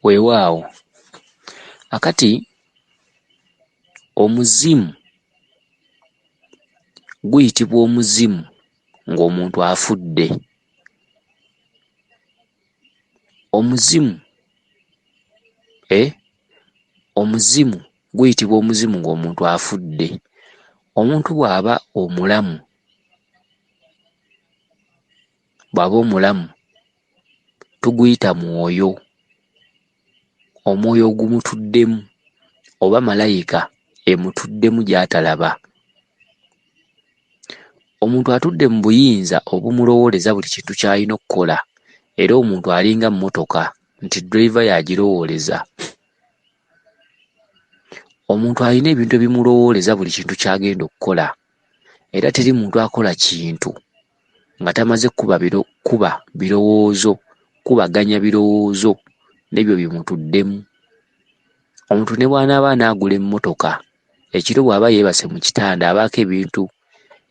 weewaawo akati omuzimu guyitibwa omuzimu ng'omuntu afudde omuzimu e omuzimu guyitibwa omuzimu ng'omuntu afudde omuntu bw'aba omulamu bw'aba omulamu tuguyita mwoyo, omwoyo ogumutuddemu oba malayika emutuddemu gy'atalaba. Omuntu atudde mu buyinza obumulowooleza buli kintu ky'alina okukola era omuntu alinga mmotoka nti ddereeva y'agirowooleza. Omuntu alina ebintu ebimulowooleza buli kintu ky'agenda okukola era teri muntu akola kintu nga tamaze kukuba biro kuba birowoozo kukubaganya birowoozo n'ebyo bye mutuddemu. Omuntu ne bw'anaaba anaagula emmotoka, ekiro bw'aba yeebase mu kitanda abaako ebintu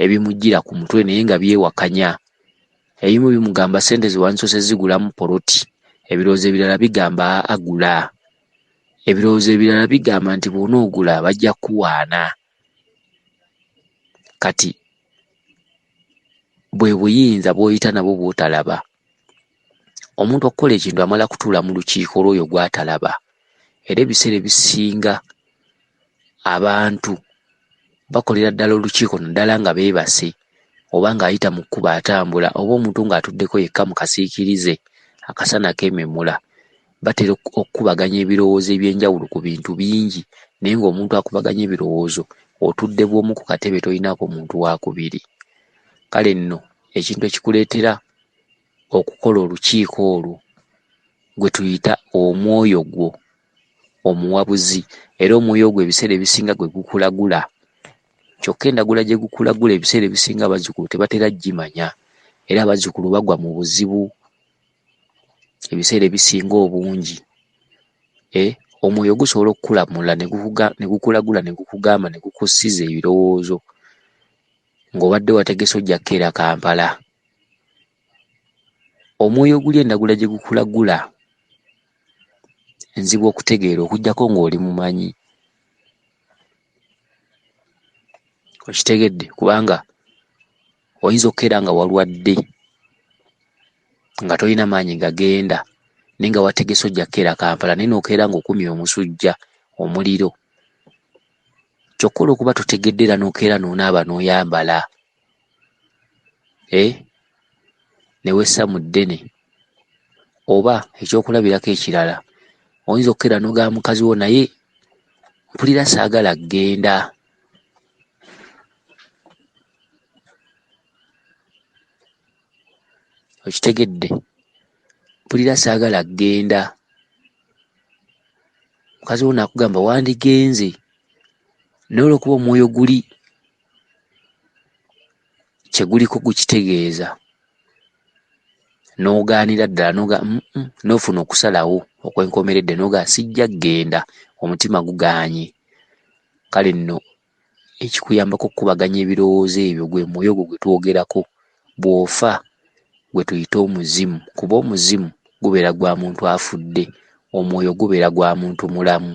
ebimujjira ku mutwe naye nga byewakanya. Ebimu bimugamba ssente ze wandisoose zigulamu poloti, ebirowoozo ebirala bigamba agula. Ebirowoozo ebirala bigamba nti bw'onoogula bajja kukuwaana. kati bwe buyinza bw'oyita nabwo bw'otalaba omuntu okukola ekintu amala kutuula mu lukiiko lw'oyo gw'atalaba era ebiseera ebisinga abantu bakolera ddala olukiiko naddala nga beebase oba ng'ayita mu kkubo atambula oba omuntu ng'atuddeko yekka mu kasiikirize akasana keememula. batera okukubaganya ebirowoozo eby'enjawulo ku bintu bingi naye ng'omuntu akubaganya ebirowoozo otudde bw'omu ku katebe tolinaako muntu waakubiri. Kale nno ekintu ekikuleetera okukola olukiiko olwo gwe tuyita omwoyo gwo omuwabuzi era omwoyo ogwo ebiseera ebisinga gwe gukulagula kyokka endagula gye gukulagula ebiseera ebisinga abazzukulu tebatera gimanya era abazzukulu bagwa mu buzibu ebiseera ebisinga obungi e omwoyo gusobola okukulamula ne gukulagula ne gukugamba ne gukussiza ebirowoozo ng'obadde wategese ojja kukeera Kampala. Omwoyo oguli endagula gye gukulagula nzibu okutegeera okuggyako ng'oli mumanyi. Okitegedde kubanga oyinza okukeera nga walwadde nga tolina maanyi gagenda naye nga wategese ojja kukeera kampala naye nokeera nga okumya omusujja omuliro kyokka olwokuba totegedde era nokeera nonaaba noyambala e newessa mu ddene oba ekyokulabirako ekirala oyinza okukeera nogaa mukazi wo naye mpulira saagala genda okitegedde mpulira saagala kugenda mukazi wo naakugamba wandigenze naye olwokuba omwoyo guli kyeguliko gukitegeeza n'ogaanira ddala noga mm, mm, n'ofuna okusalawo okwenkomeredde noga sijja kugenda omutima gugaanye kale nno ekikuyambako okukubaganya ebirowoozo ebyo gwe mwoyo ogwo gwe twogerako bw'ofa gwe tuyite omuzimu kuba omuzimu gubeera gwa muntu afudde omwoyo gubeera gwa muntu mulamu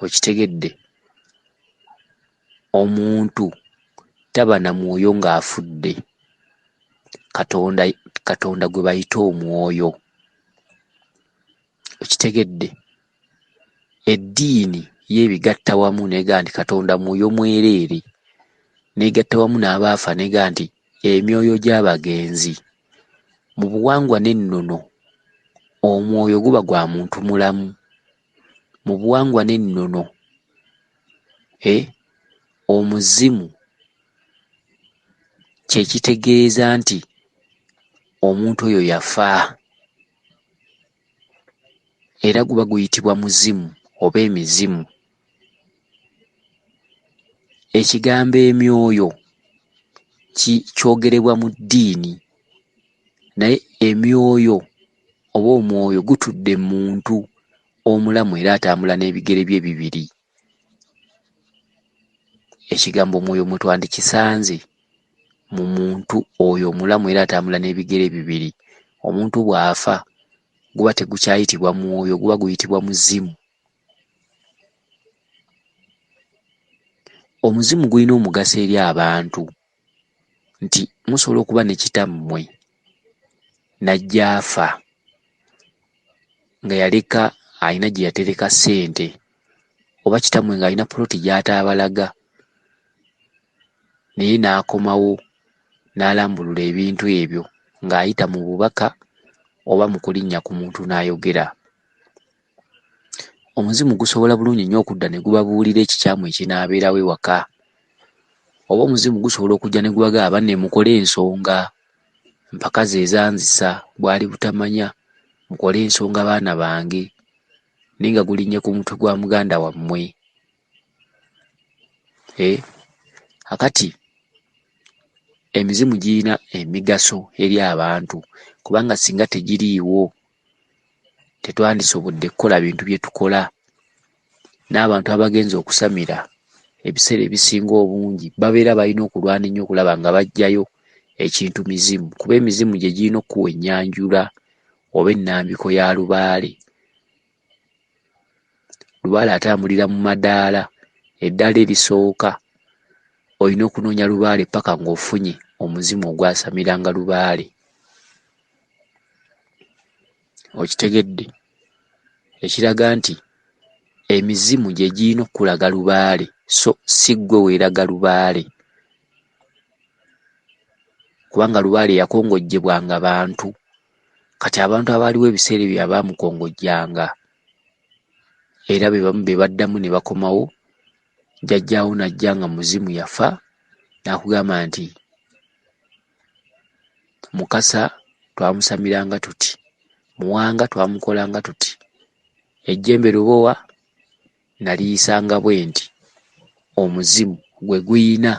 okitegedde Omuntu taba na mwoyo ng'afudde, Katonda, Katonda gwe bayita omwoyo. Okitegedde? Eddiini yeebigatta wamu neega nti Katonda mwoyo mwereere, neegatta wamu n'abaafa neega nti emyoyo gy'abagenzi. Mu buwangwa n'ennono, omwoyo guba gwa muntu mulamu. mu buwangwa n'ennono eh, omuzimu kye kitegeeza nti omuntu oyo yafa era guba guyitibwa muzimu oba emizimu ekigambo emyoyo kyogerebwa mu ddiini naye emyoyo oba omwoyo gutudde mu muntu omulamu era atambula n'ebigere bye bibiri ekigambo omwoyo mwe twandikisanze mu muntu oyo omulamu era atambula n'ebigere bibiri omuntu bw'afa guba tegukyayitibwa mwoyo guba guyitibwa muzimu omuzimu gulina omugaso eri abantu nti musobola okuba ne kitammwe n'ajja afa nga yaleka alina gye yatereka ssente oba kitammwe ng'alina poloti gy'ataabalaga naye n'akomawo n'alambulula ebintu ebyo ng'ayita mu bubaka oba mu kulinnya ku muntu n'ayogera Omuzimu gusobola bulungi nnyo okudda ne gubabuulira ekikyamu ekinaabeerawo ewaka. Oba omuzimu gusobola okujja ne gubaga aba ne mukole ensonga. Mpaka ze zanzisa bwali butamanya mukole ensonga baana bange naye nga gulinnye ku mutwe gwa muganda wammwe. Eh, akati emizimu girina emigaso eri abantu kubanga singa tegiriiwo tetwandisobodde kukola bintu bye tukola. N'abantu abagenze okusamira ebiseera ebisinga obungi babeera balina okulwana ennyo okulaba nga baggyayo ekintu mizimu kuba emizimu gye girina okukuwa ennyanjula oba ennambiko ya lubaale. Lubaale atambulira mu madaala, eddaala erisooka olina okunoonya lubaale paka ng'ofunye omuzimu ogwasamiranga lubaale. okitegedde ekiraga nti emizimu gye girina okukulaga lubaale so si ggwe weeraga lubaale kubanga lubaale yakongojjebwanga bantu kati abantu abaaliwo ebiseera ebyo abaamukongojjanga era be bamu be baddamu ne bakomawo jjajjaawo n'ajja nga muzimu yafa n'akugamba nti mukasa twamusamiranga tuti muwanga twamukolanga tuti ejjembe lubowa naliyisanga bwe nti omuzimu gwe guyina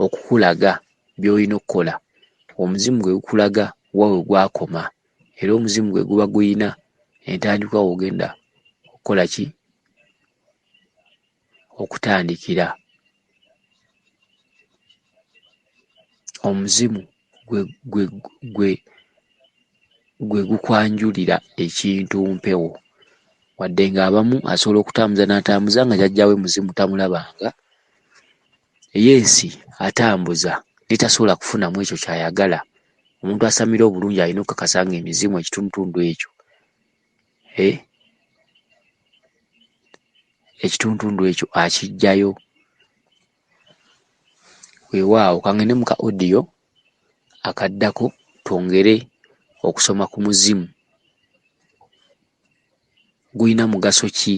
okukulaga byolina okukola omuzimu gwe gukulaga wawe gwakoma era omuzimu gwe guba guyina entandikwa wogenda okukola ki okutandikira omuzimu gwe gukwanjulira ekintu mpewo wadde ng'abamu asobola okutambuza n'atambuza nga jajjawe muzimu tamulabanga eye ensi atambuza netasobola kufunamu ekyo kyayagala omuntu asamira obulungi alina okukakasa nga emizimu ekitundutundu ekyo eh? ekituntundu ekyo akijjayo weewaawo kangende muka odiyo akaddako twongere okusoma ku muzimu gulina mugaso ki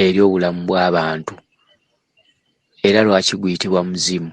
eri obulamu bw'abantu era lwaki guyitibwa muzimu